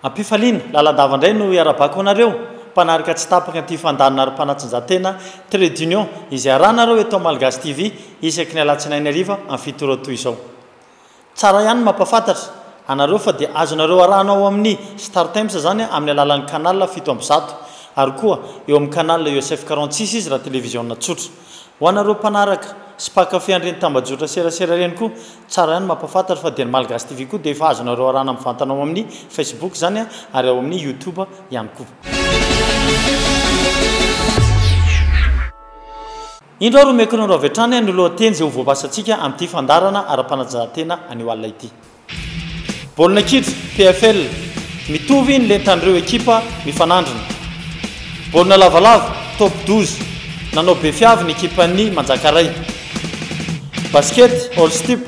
Ampifaliana, lalandava indray no hiarabako anareo mpanaraka tsy tapaka an'ity fandalinana ary mpanatsinjatena Trait d'Union izay arahanareo eto amin'ny Malgazy TV isaky ny alatsinainy hariva amin'ny fito ora toy izao. Tsara ihany ny mampafantatra anareo fa dia azonareo arahana ao amin'ny Startimes izany amin'ny alalan'ny canal fito amby zato ary koa eo amin'ny canal USF quarante six izy raha televiziona tsotra. Ho anareo mpanaraka sy mpankafy an'ireny tambajotra serasera ireny koa, tsara ihany ny mampafantatra fa dia ny Malgache TV koa dia efa azonareo arahana mivantana ao amin'ny Facebook izany ary ao amin'ny YouTube ihany koa. Indro ary omeko anareo avy hatrany ny lohateny izay ho voabasantsika amin'ity fandaharana ara-panatanjahantena anio alina ity. Baolina kitra, PFL, mitovy ny lentan'ireo ekipa mifanandrina. Baolina lavalava, Top douze, nanao be fiavy ny ekipan'ny Manjakaray. Basket, All Stip,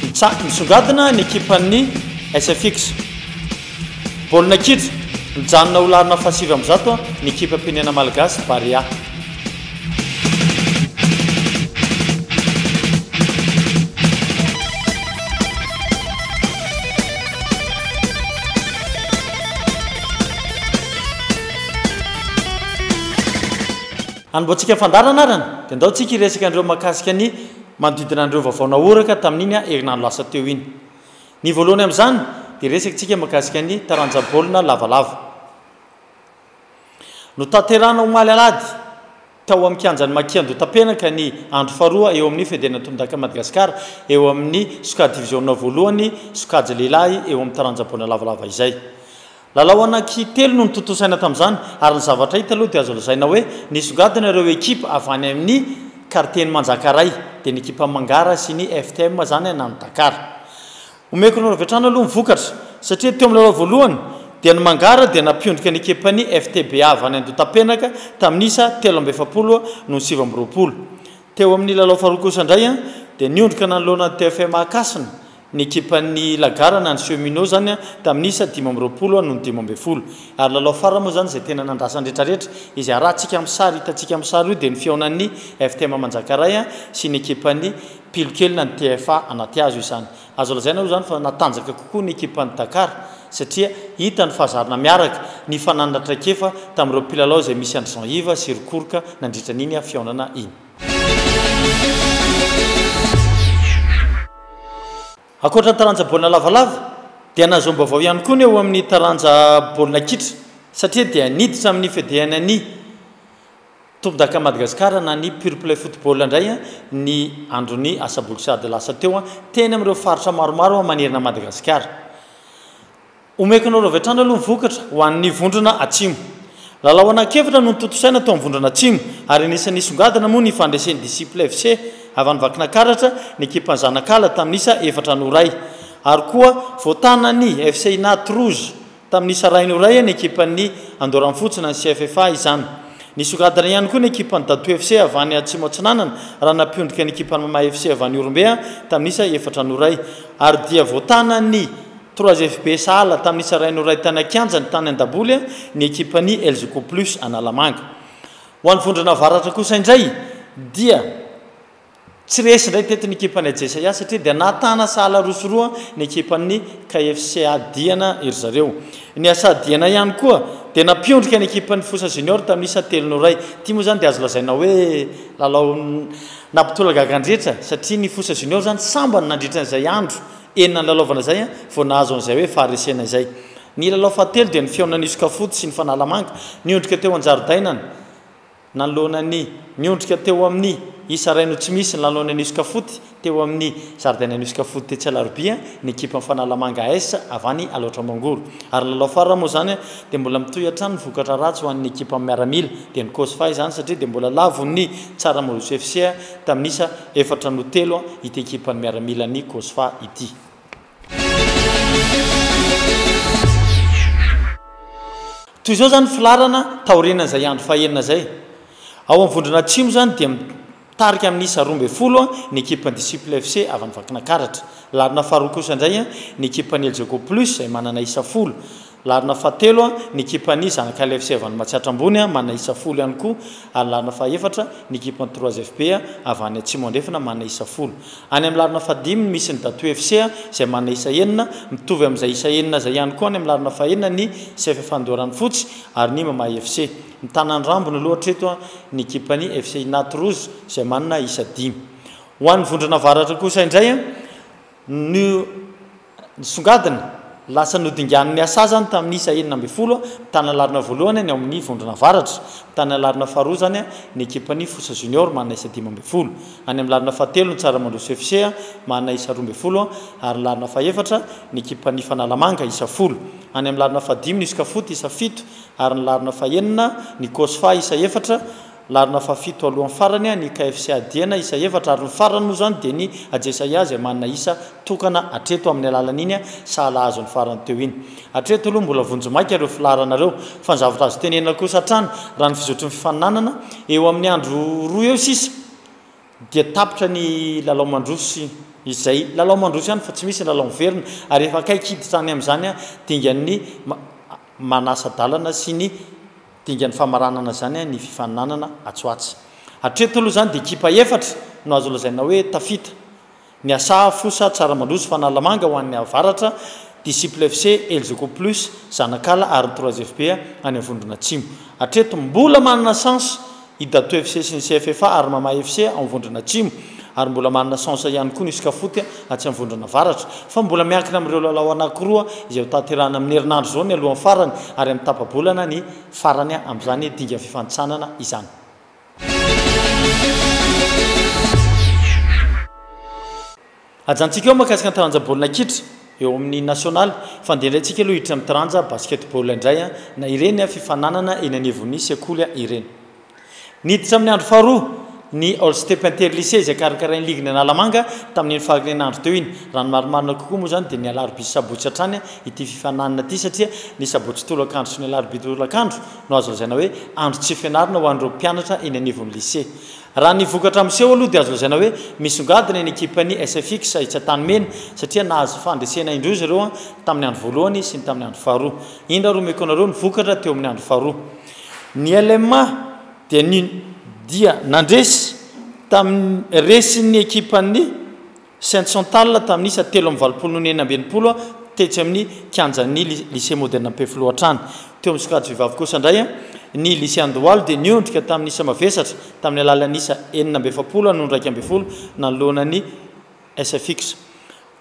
mitsa, misongadina ny ekipan'ny SFX. Baolina kitra, mijanona ho laharana fahasivy amby zato ny ekipam-pirenena malagasy, Barea. Hanombohantsika ny fandaharana ary dia ndao tsika hiresaka an'ireo mahakasika ny manodidina an'ireo vaovao nahoraka tamin'iny herinandro lasa teo iny. Ny voalohany amin'izany dia hiresaka tsika mahakasika ny taranja baolina lavalava. Notanterahina omaly alahady tao amin'ny kianjan'i Maki Andohatapenaka ny andro faharoa eo amin'ny Federaina Tondaka Madagasikara eo amin'ny sokajy diviziona voalohany sokajy lehilahy eo amin'ny taranja baolina lavalava izay. Lalao anankitelo no notontosaina tamin'izany ary ny zavatra hita aloha dia azo lazaina hoe nisongadina ireo ekipa avy any amin'ny kartien'i Manjakaray dia ny ekipan'i Mangara sy ny FTM izany na ny Dakar. Omeko anareo avy hatrany aloha ny vokatra satria teo amin'ny lalao voalohany dia ny Mangara dia nampiondrika ny ekipan'ny FTB avy any Andotapenaka tamin'ny isa telo amby efapolo noho ny sivy amby roapolo. Teo amin'ny lalao faharoa kosa indray dia niondrika nanoloana ny TFM Ankasina ny ekipan'ny Lagarana, ny Cheminots izany, tamin'ny isa dimy amby roapolo noho ny dimy ambin'ny folo. Ary lalao farany moa izany izay tena nandrasa ny rehetrarehetra. Izay arahantsika amin'ny sary, hitantsika amin'ny sary io dia ny fihaonan'ny FTM Manjakaray sy ny ekipan'ny. Pilokelina ny TFA anaty hazo izany. Azo lazaina aloha izany fa natanjaka kokoa ny ekipan'i Dakar satria hita ny fahazarana miaraka, ny fananana traikefa tamin'ireo mpilalao izay misy an-dry Jean Yves sy ry Koroka nandritra an'iny fihaonana iny. Ankoatra ny taranja baolina lavalava dia nahazom-baovao ihany koa ny eo amin'ny taranja baolina kitra satria dia niditra amin'ny Fedea Nani. Tompondaka Madagascar na ny Pure Play Football indray ny andron'ny asaboky sahady lasa teo teny amin'ireo faritra maromaro manerana an'i Madagasikara. Omeko anareo avy hatrany aloha ny vokatra ho an'ny vondrona Atsimo. Lalao anankefatra no notontosaina teo amin'ny vondrona Atsimo ary anisan'ny nisongadina moa ny fandresen'ny Disciples FC avy any Vakinakaratra ny ekipan'i Zanakala tamin'ny isa efatra no iray ary koa voatànan'ny FC Inaty Rouge Tamin'ny sarahiny ho iray ny ekipan'ny Andorra Mifotsina ny CFFA izany. Nisongadina ihany koa ny ekipan'ny Dato FC avy any Atsimo Atsinanana raha nampiondrika ny ekipan'ny Mama FC avy any Ihorombe tamin'isa efatra no iray ary dia voatanan'ny Trois FB sahala tamin'ny sarahiny ho iray tany an-kianjany tany an-daboly ny ekipan'ny Elzoco Plus Analamanga. Ho an'ny Vondrona Avaratra kosa indray dia. Tsy resy indray teto ny ekipan'ny Ajesaia satria dia nahatana sahala roa sy roa ny ekipan'ny KFCA Diana ry zareo. Ny Asa Diana ihany koa dia nampiondrika ny ekipan'ny Fosa Junior tamin'ny isa telo no iray. Ity moa izany dia azo lazaina hoe lalao nampitolagaga an-drehetra satria ny Fosa Junior izany sambany nandritra an'izay andro enina nilalaovana izay vao nahazo an'izay hoe faharesena izay. Ny lalao fahatelo dia ny fihaonan'i Isokafoty sy ny Fanalamanga niondrika teo an-jaridainana. Nanoloana ny niondrika teo amin'ny isa iray no tsy misy ny lalao ny An'Ioska Foot teo amin'ny zaridaina An'Ioska Foot tetsy Alarobia ny ekipan'ny Fanalamanga AS avy any Alaotra Mangoro ary ny lalao farany moa izany dia mbola mitohy hatrany ny vokatra ratsy ho an'ny ekipan'ny miaramila dia ny Cosfa izany satria dia mbola lavon'ny Tsaramaroso FC tamin'ny isa efatra no telo ity ekipan'ny miaramila ny Cosfa ity. Toy izao izany ny filaharana taorian'izay andro fahenina izay. Ao amin'ny vondrona atsimo izany dia mitarika amin'ny isa roa ambin'ny folo ny ekipan'ny Disciples FC avy any Vakinakaratra. Laharana faharoa kosa indray ny ekipan'ny Elgeco Plus izay manana isa folo. Larina fahatelo ny ekipan'i Zanakalev Sevan Matsiatra Ambony, manana isa folo ihany koa, ary larina fahaefatra ny ekipan'ny Trois FB avy any Atsimo Andrefana, manana isa folo. Any amin'ny larina fahadimy no misy ny Datou FC izay manana isa enina, mitovy amin'izay isa enina izay ihany koa any amin'ny larina fahenina ny CFF Andoharanofotsy ary ny Mamaha FC. Mitana ny rambony aloha hatreto ny ekipan'ny FC Inat Rouge izay manana isa dimy. Ho an'ny Vondrona Avaratra kosa indray no. Nisongadina lasa nodinganin'ny hasazany tamin'ny isa enina ambin'ny folo tany Alarina voalohany ny ao amin'ny vondrona avaratra, tany Alarina faharoa izany ny ekipan'ny Fosa Junior manana isa dimy ambin'ny folo, any amin'ny Larina fahatelo ny Tsaramandroso FC manana isa roa ambin'ny folo ary ny Larina fahefatra ny ekipan'ny Fanalamanga isa folo, any amin'ny Larina fahadimy ny Iscafoot isa fito ary ny Larina fahenina ny Cosfa isa efatra. Larina fahafito alohan'ny farany ny KFCA Diana isa efatra ary ny farany moa izany dia ny Ajesaia izay manana isa tokana hatreto amin'ny alalan'iny sahala azo ny farany teo iny. Hatreto aloha mbola vonjimaika ireo filaharana ireo fa ny zavatra azo tenenina kosa hatrany raha ny fizotry ny fifaninanana eo amin'ny andro roa eo sisa dia tapitra ny lalao mandroso izay lalao mandroso ihany fa tsy misy ny lalao miverina ary efa akaiky hiditra any amin'izany dingan'ny manasa-dalana sy ny Dingan'ny famaranana izany ny fifaninanana atsy ho atsy. Hatreto aloha izany dia ekipa efatra no azo lazaina hoe tafita. Ny Asaha, Fosa, Tsaramandroso, Fanalamanga ho an'ny avaratra, Disciples FC, Elzoco Plus, Zanakala ary ny Trois FB any amin'ny vondrona atsimo. Hatreto mbola manana chance i Dato FC sy ny CFFA ary Mama FC ao Vondrona Atsimo ary mbola manana chance ihany koa ny Scafoot atsy amin'ny Vondrona Avaratra fa mbola miankina amin'ireo lalao anankiroa izay hotanterahina amin'ny herinandro izao ny alohan'ny farany ary amin'ny tapa-bolana ny farany amin'izany dingana fifanintsanana izany. Hajantsika eo mahakasika ny taranja baolina kitra eo amin'ny nasionaly fa ndereantsika aloha hiditra amin'ny taranja basketball indray na ireny fifaninanana eny anivon'ny sekoly ireny. Niditra amin'ny andro faharoa ny All-Step Inter-Lycée izay karakarain'ny ligin'i Analamanga tamin'iny fahariana andro teo iny. Raha ny marimarina kokoa moa izany dia ny alarobia sy sabotsy hatrany ity fifaninanana ity satria ny sabotsy tolakandro sy ny alarobia tolakandro no azo lazaina hoe andro tsy fianarana ho an'ireo mpianatra eny anivon'ny lycée Raha ny vokatra miseho aloha dia azo lazaina hoe misongadina ny ekipan'ny Sfx etsy Antanimena satria nahazo fandresena indroa izy ireo tamin'ny andro voalohany sy ny tamin'ny andro faharoa. Indro ary omeko anareo ny vokatra teo amin'ny andro faharoa. Ny LMA dia ny dia nandresy tamin'ny resin'ny ekipan'ny. Sainte Chantal tamin'isa telo amby valopolo noho ny enina amby enimpolo tetsy amin'ny kianjan'ny Lycée Moderne Ampefiloha hatrany. Teo amin'ny sokajy vehivavy kosa indray, ny Lycée Andohalo dia niondrika tamin'ny isa mavesatra tamin'ny alalan'ny isa enina amby efapolo hatramin'ny iraika ambin'ny folo nanoloana ny sfx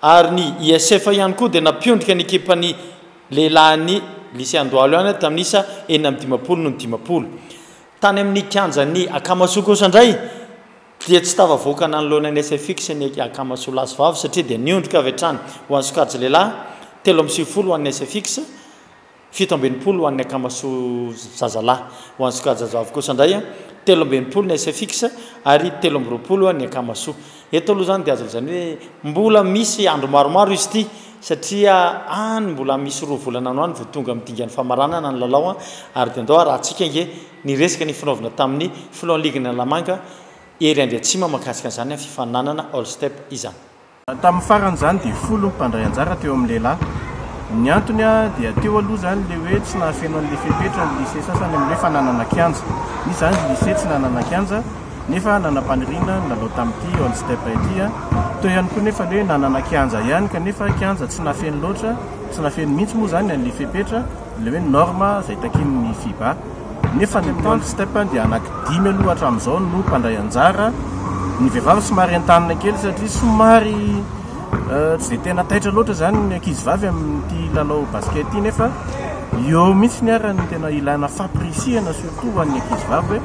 ary ny ISF ihany koa dia nampiondrika ny ekipan'ny lehilahin'ny Lycée Andohalo ihany tamin'ny isa enina amby dimampolo noho ny dimampolo. Tany amin'ny kianjan'ny Akamasoa kosa indray, Dia tsy tafavoaka nanoloana ny SFIX ny akamasao lahy sy vavy satria dia niondrika avy hatrany ho an'ny sokajy lehilahy, telo amby sivifolo ho an'ny SFIX, fito amby enimpolo ho an'ny akamasao zazalahy. Ho an'ny sokajy zazavavy kosa indray, telo amby enimpolo ny SFIX ary telo amby roapolo ny akamasao. Eto aloha izany dia azo lazaina hoe mbola misy andro maromaro izy ity. satria any mbola misy roa volana ano any vao tonga amin'ny dingan'ny famaranana ny lalao an, ary dia ndao harahantsika ange ny resaka nifinaovina tamin'ny filohan'ny ligin'ny Analamanga ery Andriatsimo mahakasika an'izany fifaninanana All Step izany. Tamin'ny farany izany dia folo ny mpandray anjara teo amin'ny lehilahy. Ny antony dia teo aloha izany ilay hoe tsy nahafeno an'ilay fepetra ny lycée sasany amin'ny hoe fananana kianja. Misy izany lycée tsy nanana kianja. nefa nanam-paniriana ny lalao tamin'ity All Step ity. Teo ihany koa nefa ny hoe nanana kianja ihany kanefa kianja tsy nafeno loatra, tsy nafeno mihitsy moa izany an'ilay fepetra, ilay hoe norme izay takian'ny Fiba. Nefa ny All Step dia anankidimy aloha hatramin'izao no mpandray anjara. Ny vehivavy somary entanina kely satria somary tsy dia tena taitra loatra izany ny ankizivavy amin'ity lalao basket ity nefa eo mihitsy ny ary ny tena ilana fampirisihana surtout ho an'ny ankizivavy hoe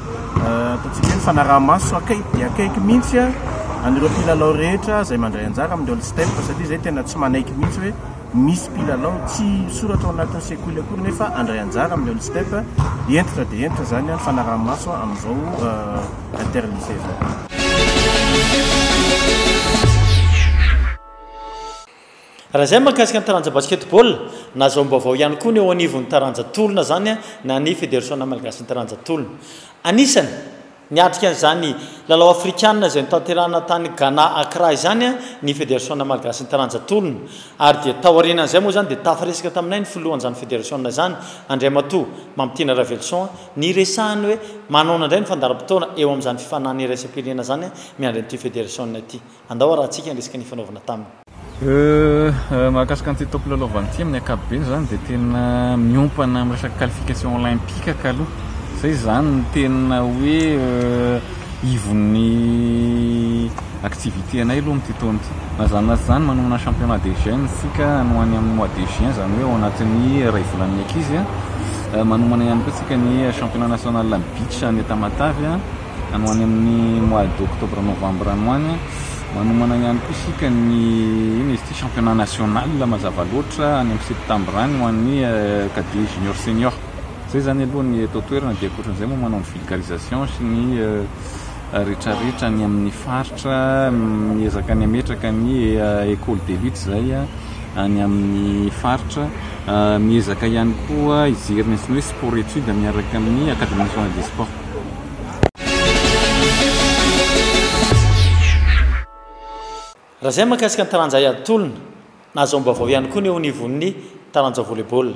Ataontsika hoe mifanaraha-maso akaiky dia akaiky mihitsy an'ireo mpilalao rehetra izay mandray anjara amin'ny All Step satria izay tena tsy manaiky mihitsy hoe misy mpilalao tsy misoratra ao anatin'ny sekoly akory nefa handray anjara amin'ny All Step. Hentitra dia hentitra izany ny fanaraha-maso amin'izao Interlycée izao. Raha izay mahakasika ny taranja basketball, nazahoam-baovao ihany koa ny eo anivon'ny taranja tolona izany na ny Federasiona malagasin'ny taranja tolona. Anisany niatrika an'izany lalao afrikana izay notanterahina tany Ghana Accra izany ny Federasiona malagasin'ny taranja tolona ary dia taorianan'izay moa izany dia tafaresaka taminay ny filohan'izany federasiona izany Andriamatoa Mamitiana Raveloson niresahany hoe manaona indray ny fandaharam-potoana eo amin'izany fifaninana iraisam-pirenena izany miandry an'ity federasiona ity. Andao arahantsika ny resaka nifanaovana taminy. Euh, mahakasika an'ity topo lalaovana ity amin'ny ankapobeny izany dia tena miompana amin'ny resaka qualification olympique ka aloha. Izay izany no tena hoe euh, ivon'ny activité anay aloha amin'ity taona ity. Na izany na tsy izany manomana championnat des jeunes isika any amin'ny mois de juin izany hoe ao anatin'ny iray volan'ny ankizy. Euh, manomana ihany koa isika ny championnat national an'ny beach any Tamatave. Any ho any amin'ny mois d'octobre novembre any ho any a, manomana ihany koa isika ny inona izy ity championnat national mazava loatra any amin'ny septembre any ho an'ny cadet junior senior. Izay izany aloha ny eto an-toerana dia ankoatran'izay moa manao ny vulgarisation sy ny rehetrarehetra any amin'ny faritra miezaka ny hametraka ny ecole de lutte izay any amin'ny faritra miezaka ihany koa hijery ny antsoina hoe sport étude miaraka amin'ny academie nationale des sports. Raha izay ny mahakasika ny taranja hay atolona. Nahazoam-baovao ihany koa ny eo anivon'ny taranja volley-ball.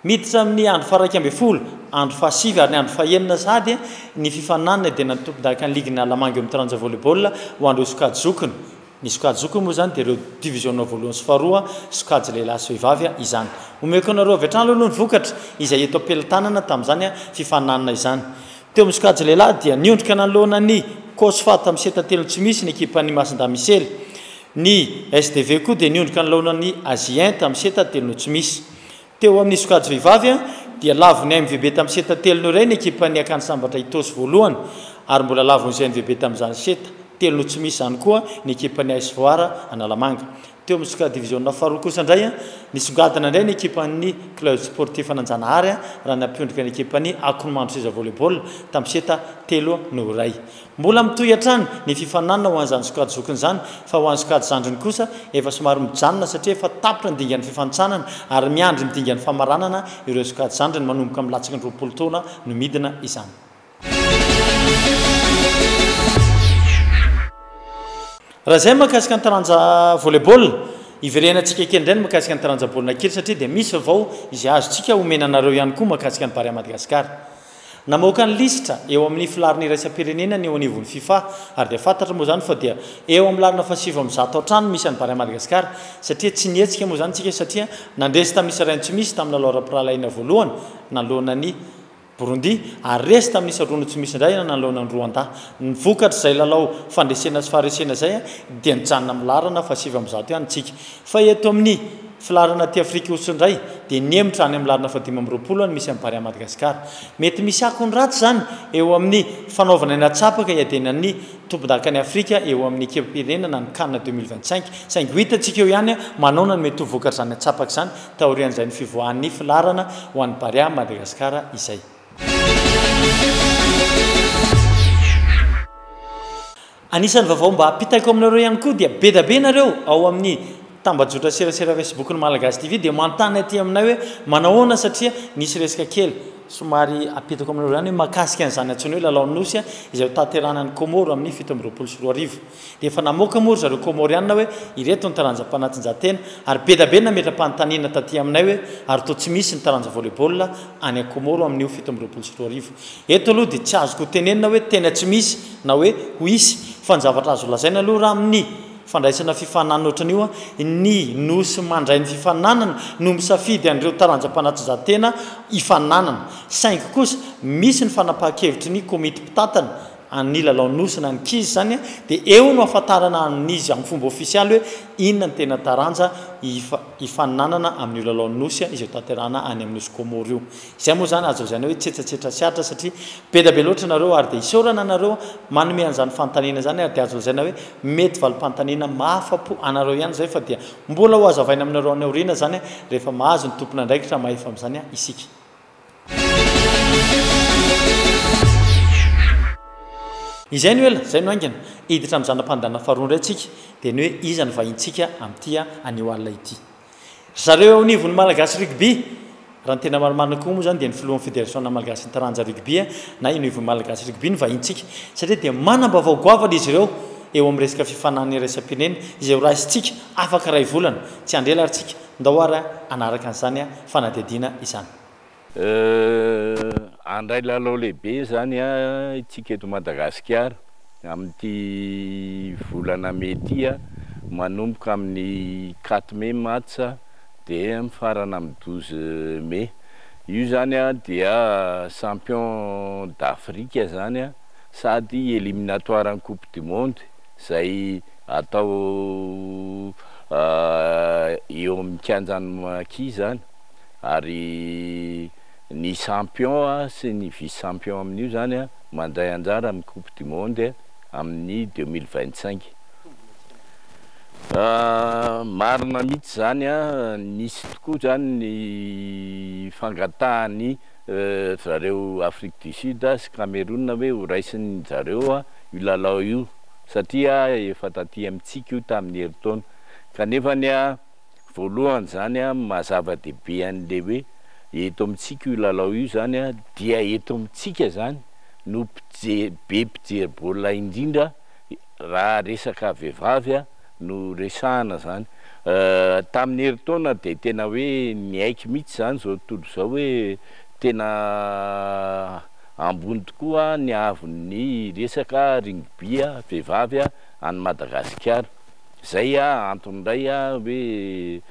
Miditra amin'ny andro faha-iraika ambin'ny folo, andro fahasivy ary ny andro fahenina sahady ny fifaninanana dia ny an'ny tompondakan'ny ligin'ny Analamanga eo amin'ny taranja volley-ball ho an'ireo sokajy zokiny. Ny sokajy zokiny moa izany dia ireo diviziona voalohany sy faharoa, sokajy lehilahy sy vehivavy, izany. Omeko anareo avy hatrany aloha ny vokatra izay eto am-pelantanana tamin'izany fifaninanana izany. Teo amin'ny sokajy lehilahy dia niondrika nanoloana ny Cosfa tamin'ny seta telo tsy misy ny ekipan'ny Masindamisely. Ny SDV koa dia niondrika nanoloana ny Asie tamin'ny seta telo no tsy misy. Teo amin'ny sokajy vehivavy dia lavon'ny AMVB tamin'ny seta telony iray ny ekipan'ny Akany Sambatra Itosi voalohany ary mbola lavon'izay AMVB tamin'izany seta telony tsy misy izany koa ny ekipan'ny AS Foara Analamanga. Teo amin'ny sokajy diviziona faharoa kosa indray nisongadina indray ny ekipan'ny Club Sportif Ananjanahary raha nampiondrika ny ekipan'ny Akonomandroseza Volley-ball tamin'ny seta telo noho iray. Mbola mitohy hatrany ny fifaninanana ho an'izany sokajy zokiny izany fa ho an'ny sokajy zandriny kosa efa somary mijanona satria efa tapitra ny dingan'ny fifanintsanana ary miandry ny dingan'ny famaranana ireo sokajy zandriny manomboka amin'ny latsaky ny roapolo taona no midina izany. Raha izay ny mahakasika ny taranja volley ball, hiverenatsika kely indray ny mahakasika ny taranja baolina kely satria dia misy vavao izay azontsika omena anareo ihany koa mahakasika ny Barea Madagasikara. Namoaka ny lisitra eo amin'ny filaharana iraisam-pirenena ny eo anivon'ny Fifa ary dia fantatra moa izany fa dia eo amin'ny lalana fahasivy amby zato hatrany no misy an'i Barea Madagascar satria tsy nihetsika moa izany isika satria nandresy tamin'ny isa iray no tsy misy tamin'ny lalao ara-pirahalahiana voalohany nanoloana an'i Burundi ary resy tamin'ny isa roa no tsy misy indray nanoloana an'i Rwanda. Ny vokatr'izay lalao fandresena sy faharesena izay dia nijanona amin'ny laharana fahasivy amby zato ihany isika fa eto amin'ny Filaharana aty Afrika Aotsy indray dia nihemotra any amin'ny laharana fahadimy amby roapolo any misy an'i Barea Madagascar. Mety misy akony ratsy izany eo amin'ny fanaovana ny hatsapaka hiadenan'ny tompon-dakan'i Afrika eo amin'ny ekipam-pirenena ny Can deux mille vingt cinq saingy ho hitantsika eo ihany manaona no mety ho vokatr'izany hatsapaka izany taorian'izay ny fivoahan'ny filaharana ho an'i Barea Madagascar izay Anisan'ny vaovao mba ampitaiko aminareo ihany koa dia bedabe nareo ao amin'ny tambajotra serasera facebook ny Malagasy TV dia manontany aty aminay hoe manahoana satria nisy resaka kely somary apetako aminareo izany hoe mahakasika an'izany antsoina hoe lalaon'ny nosy izay ho tanterahana ny Comore amin'ny fito amby roapolo sy roa arivo dia efa namoaka moa ry zareo Comoriana hoe ireto ny taranja mpanatinjantena ary bedabe nametra-panontaniana taty aminay hoe ary toa tsy misy ny taranja volley-ball any Comore amin'io fito amby roapolo sy roa arivo Eto aloha dia tsy azoko hotenenina hoe tena tsy misy na hoe ho hisy, fa ny zavatra azo lazaina aloha raha amin'ny fandraisana fifaninanana ohatran'io an, ny Nosy mandray ny fifaninanana no misafidy an'ireo taranja mpanatrzahatena hifaninanana. Saingy kosa misy ny fanapahan-kevitry ny komity mpitantana an'ny lalao Nosy na ny kiz izany an, dia eo no hahafantarana amin'izy amin'ny fomba ofisialy hoe inona ny tena taranja hifaninanana amin'io lalao Nosy izay hotanterahana any amin'ny Nosy Kômôro io. Izay moa izany azo lazaina hoe tsetsatsetra sy Atra satria be dia be loatra nareo ary dia isaorana anareo manome an'izany fanontaniana izany ary dia azo lazaina hoe mety valim-panontaniana mahafa-po anareo ihany izay fa dia mbola ho hazavaina aminareo any aoriana izany rehefa mahazo ny tompon'andraikitra mahefa amin'izany isika. Izay no ela, izay no haingana. Hiditra amin'ny zana-pandehanana faharoa indray isika dia ny hoe iza no vahintsika amin'ity anio alina ity. Ry zareo eo anivon'ny Malagasy Rugby, raha ny tena marimarina koa moa izany dia ny filohan'ny Federasiona Malagasin'ny Taranja Rugby na Univo Malagasy Rugby no vahintsika satria dia manam-baovao goavana izy ireo eo amin'ny resaka fifaninanana iraisam-pirenena izay horaisintsika afaka iray volana. Tsy handre lary tsika, ndao ary hanaraka an'izany fanadihadiana izany. Handray lalao lehibe izany isika eto Madagasikara amin'ity volana mey ity, manomboka amin'ny quatre mey match dia mifarana amin'ny douze mey. Io izany dia champion d'Afrique izany sady eliminatoire an'ny coupe du monde izay atao eo amin'ny kianjan'ny Maki izany. ary ny champion sy ny vice champion amin'io zany mandray anjara amin'ny coupe du monde amin'ny deux mille vingt cinq. Marina mihitsy zany, nisy tokoa zany ny fangatahan'ny zareo Afrique du Sud sy Cameroun hoe ho raisin'zareo io lalao io satria efa taty amintsika io tamin'ny herintaona, kanefany. Voalohany izany an, maha zava-dehibe an'ilay hoe eto amintsika io lalao io izany an, dia eto amintsika izany no mpije- be mpijery baolina indrindra raha resaka vehivavy an, no resahana izany. Tamin'ny herintaona dia tena hoe niaiky mihitsy izany izao tontolo izao hoe tena ambony tokoa ny haavon'ny resaka rugby vehivavy an'i Madagasikara. Zay antony indray hoe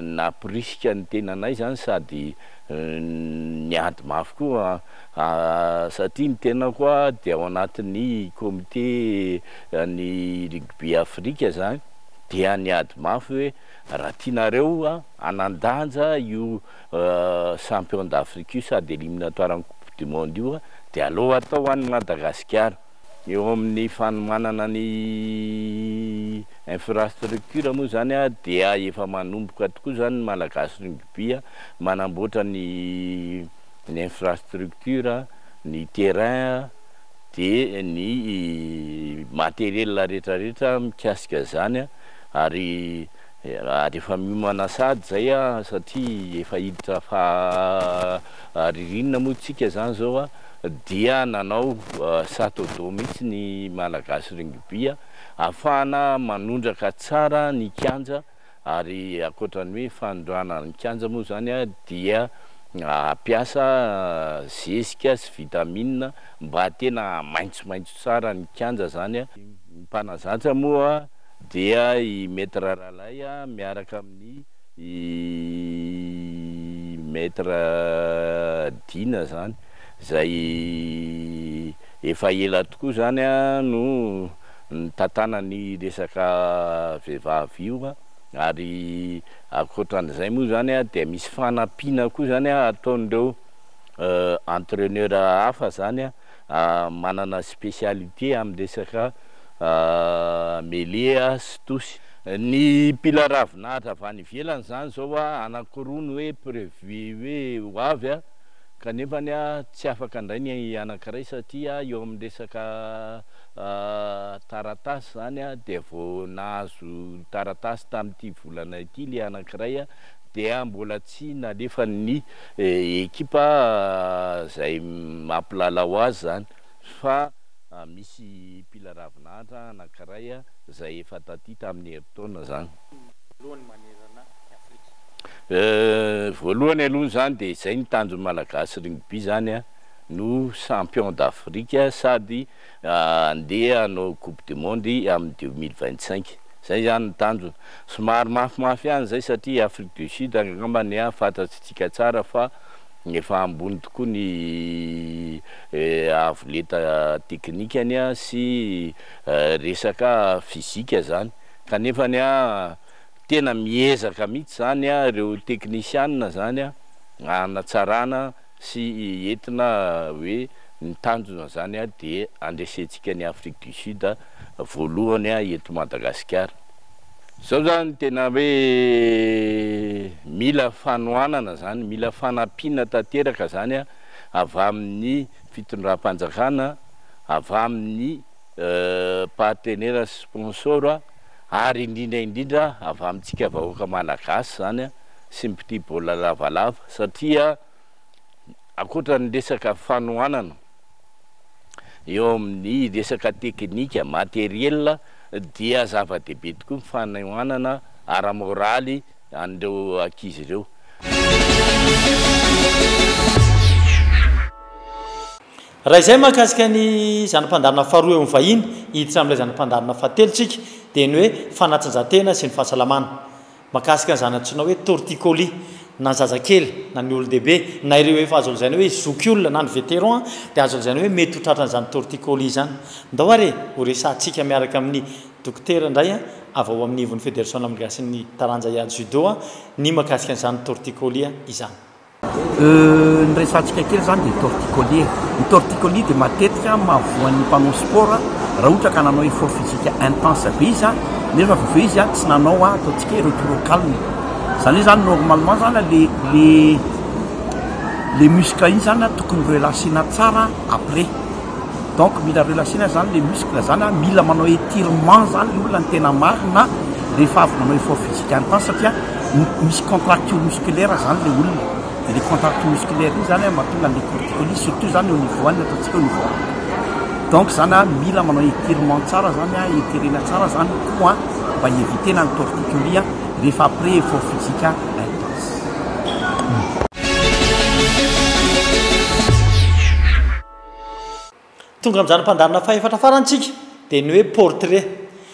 nampirisika ny tenanay zany sady niady mafy koa satria ny tenako dia ao anatin'ny comité an'ny rugby Afrika zany dia niady mafy hoe raha tianareo hanan-danja io champion d'Afrique io sady eliminatoires-n'ny coupe du monde io dia aleo atao any Madagasikara. Eo amin'ny fanomanana ny infrastructure moa izany dia efa manomboka tokoa izany ny Malagasy Rugby manamboatra ny infrastructure, ny terrain dia ny matériel rehetrarehetra mikasika izany ary. Raha rehefa miomana sahady zay a, satria efa hiditra faha ririnina moa tsika zany zao a, dia nanao sato do mihitsy ny Malagasy Rugby a, afahana manondraka tsara ny kianja ary ankoatra ny hoe fanondrana ny kianja moa zany a dia ampiasa zezika sy vitamine mba tena hamaintsomaintso tsara ny kianja zany a, ny mpanazatra moa. dia i Maître Ralay miaraka amin'ny i Maître Dina izany izay efa ela tokoa izany no nitantana ny resaka vehivavy io ary ankoatran'izay moa izany dia misy fanampiana koa izany ataon'ireo entraineur hafa izany. manana specialité amin'ny resaka mele sy tosy. Ny mpila ravin'ahitra avy any ivelany izany izao anankiroa no hoe prévu hoe ho avy kanefa tsy afaka indray ny anankiray satria eo amin'ny resaka taratasy izany dia vao nahazo taratasy tamin'ity volana ity ilay anankiray. dia mbola tsy nalefan'ny ekipa izay mampilalao azy izany fa misy mpila ravin'antra anankiray izay efa taty tamin'ny herintaona izany. Voalohany manerana i Afrika. Voalohany aloha izany dia izay ny tanjon'ny Malagasy Rugby izany no Champion d'Afrique sady Handeha hanao coupe du monde amin'ny deux mille vingt cinq. Izay izany ny tanjona. Somary mafimafy ihany izay satria i Afrique du Sud angamba ny ahy fantatsika tsara fa efa ambony tokoa ny avo lenta teknikany sy resaka physique izany. Kanefa ny ahy tena miezaka mihitsy izany ireo teknisiana izany hanatsarana. sy entina hoe ny tanjona zany dia andresentsika ny Afrique du Sud voalohany eto Madagasikara. Zao zany tena hoe mila fanohanana zany, mila fanampiana tanteraka zany avy amin'ny fitondram-panjakana, avy amin'ny partenaires sy sponsors ary indrindra indrindra avy amintsika vahoaka Malagasy zany. sy mpitia baolina lavalava satria ankoatra ny resaka fanohanana eo amin'ny resaka teknika, matériel, dia zava-dehibe tokoa ny fanohanana ara-moraly an'ireo ankizy ireo. Raha izay mahakasika ny zana-pandaharana faharoa eo amin'ny vahiny, hiditra amin'ilay zana-pandaharana fahatelo isika, dia ny hoe fanatanjahantena sy ny fahasalamana. Mahakasika ny zana-tsoina hoe torticolis, na ny zazakely, na ny olon-dehibe, na ireo efa azo lazaina hoe zoky olona na ny vétéran dia azo lazaina hoe mety ho tratran'izany torticolis izany. Ndao ary e, ho resahantsika miaraka amin'ny Dokotera indray an, avy ao amin'ny ivon'ny Federasiona Malagasy ny taranja hiady Judo an, ny mahakasika an'izany torticolis izany. Ny resahantsika kely izany dia torticolis e! Ny torticolis dia matetika mahavoan'ny mpanao sport raha ohatra ka nanao effort physique intense be izy nefa avy eo izy tsy nanao ataontsika hoe repos au calme, izany hoe zany normalement zany le le le muscle iny zany tokony relaxena tsara après. Donc mila relation zany le muscle zany a, mila manao etirement zany le olona ny tena marina rehefa avy manao effort physique any tan satria misy contracture musculaire zany le olona de le contracture musculaire iny zany a mahatonga anle corticolis surtout zany au niveau any ataontsika au niveau any donc zany a mila manao etirement tsara zany a etirena tsara zany le cou a mba hievitena ny torticolis a rehefa après effort physique intense. Tonga amin'izany mpandaharana fahefatra farany tsika, dia ny hoe portrait.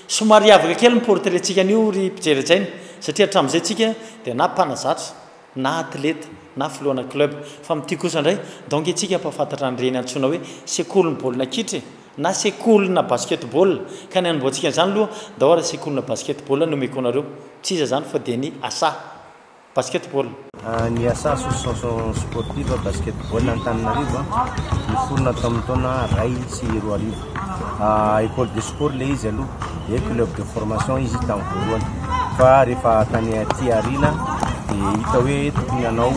Somary hiavaka kely ny portrait tsika anio ry mpijery hajaina, satria hatramin'izay tsika dia na mpanazatra, na atleta, na filohana club. Fa amin'ity kosa indray, donc isika mpahafantatra an'ireny antsoina hoe sekolin'ny baolina kitra e! na sekolina basketball, ka ny hanombohantsika an'izany aloha, ndao ary sekolina basketball no omeko anareo, tsy iza izany fa dia ny Asa. basketball. Ny asa association sportive basketball Antananarivo niforona tamin'ny taona iray sy roa arivo. École de sport ilay izy aloha, dia club de formation izy tamin'ny voalohany. Fa rehefa tany aty aoriana dia hita hoe tokony hanao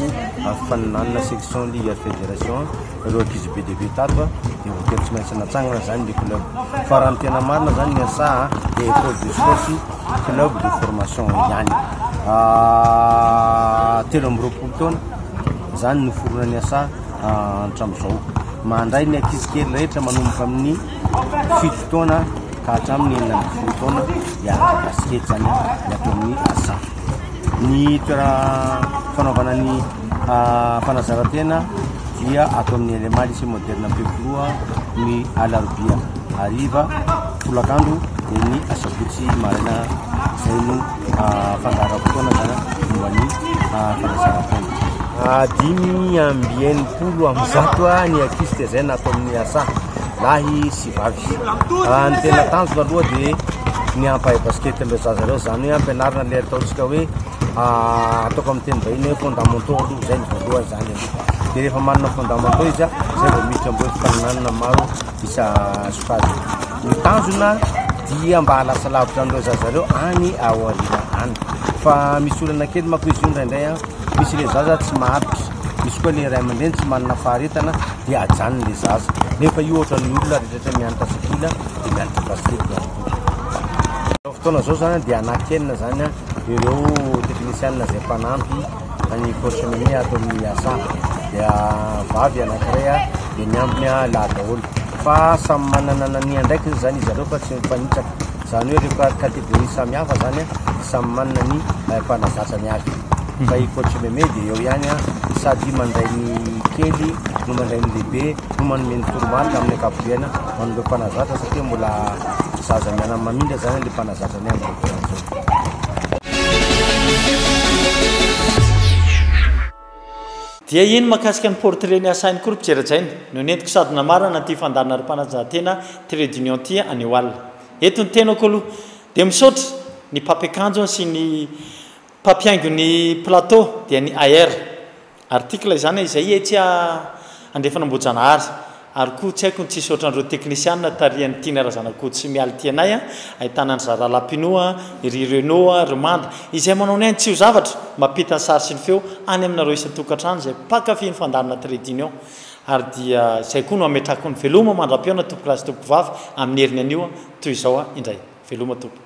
faninanana section ligue ary federation. Ireo ankizy be dia be tato a, dia voatery tsy maintsy natsangana izany ny club. Fa raha ny tena marina izany ny SA a, dia école de sport sy club de formation ihany. Ah, telo amby roapolo taona izany no niforonan'ny SA hatramin'izao. Mandray ny ankizy kely rehetra manomboka amin'ny fito taona ka hatramin'ny enina ambin'ny folo taona dia araka basikety izany ny ato amin'ny SA. Ny toerana fanaovana ny fanazarantena dia ato amin'ny LMA Lycée Moderne Ampefiloha ny alarobia hariva, folakandro dia ny asabotsy maraina izay no fandaharam-potoana zany momba ny fanazarantena. Dimy amby enimpolo amin'ny zato ny ankizy tezaina ato amin'ny asa lahy sy Vehivavy. Raha ny tena tanjona aloha dia ny hampahay basket an'ireo zaza ireo, izany hoe hampianarina ilay ataontsika hoe ataoko amin'ny teny vahiny hoe fondamentaux aloha, izay ny voalohany izany aloha. Dia rehefa manana fondamentaux izy, izay vao miditra amin'ireo fifaninanana maro isa sokajiny. Ny tanjona dia mba halasa lavitra an'ireo zaza ireo any aoriana any. Fa misy olana kely manko izy io indraindray, misy ilay zaza tsy maharitra. Misy koa ilay ray aman-dreny tsy manana faharetana dia ajanony ilay zaza. Nefa io ohatra ny olona rehetra rehetra mianatra sekoly dia mianatra basket ihany koa. Izao fotoana izao izany dia anakianina izany ireo teknisianina izay mpanampy an'i coach Mimi ato amin'ny asa. Dia vavy anankiray dia miampy ny lahy daholo. Fa samy manana ny andraikiny izany izy ireo fa tsy mifanitsaka. Izany hoe ireo catégorie samihafa izany samy manana ny mpanazatra ny azy. fa i coach Meme dia eo ihany sady mandray ny kely no mandray ny lehibe no manome ny toromarika amin'ny ankapobeana ho an'ireo mpanazatra satria mbola zaza mianany mamindra izany ilay mpanazatra ny amin'izao fotoana izao. Dia iny mahakasika ny portrait ny asainy koa ry mpijerajaina no nentiko sady namarana ity fandaharan'Aripanajahatena Trade Union ity anio alina. Eto ny tenako aloha dia misaotra ny mpampiakanjo sy ny Mpampihaingo ny plateau dia ny AR. Article izany a! Izay etsy a! Andrefana Ambohijanahary. Ary koa tsy haiko ny tsisy ohatran'ireo teknisiana tarihan'i Tiana Razanakoto sy Mialy Tianay a! Ahitana an-dry Zara Lapino a! I ry Renaud a! Ry Manda. Izay manao ny ainy tsy ho zavatra, mampita ny sary sy ny feo any aminareo isan-tokantrano izay mpankafy ny fandaharana Trait d'Union. Ary dia izay koa no hametrako ny veloma mandram-pihaona tompokolahy sy tompokovavy amin'ny heriny anio a! Toy izao a! Indray. Veloma tompoko.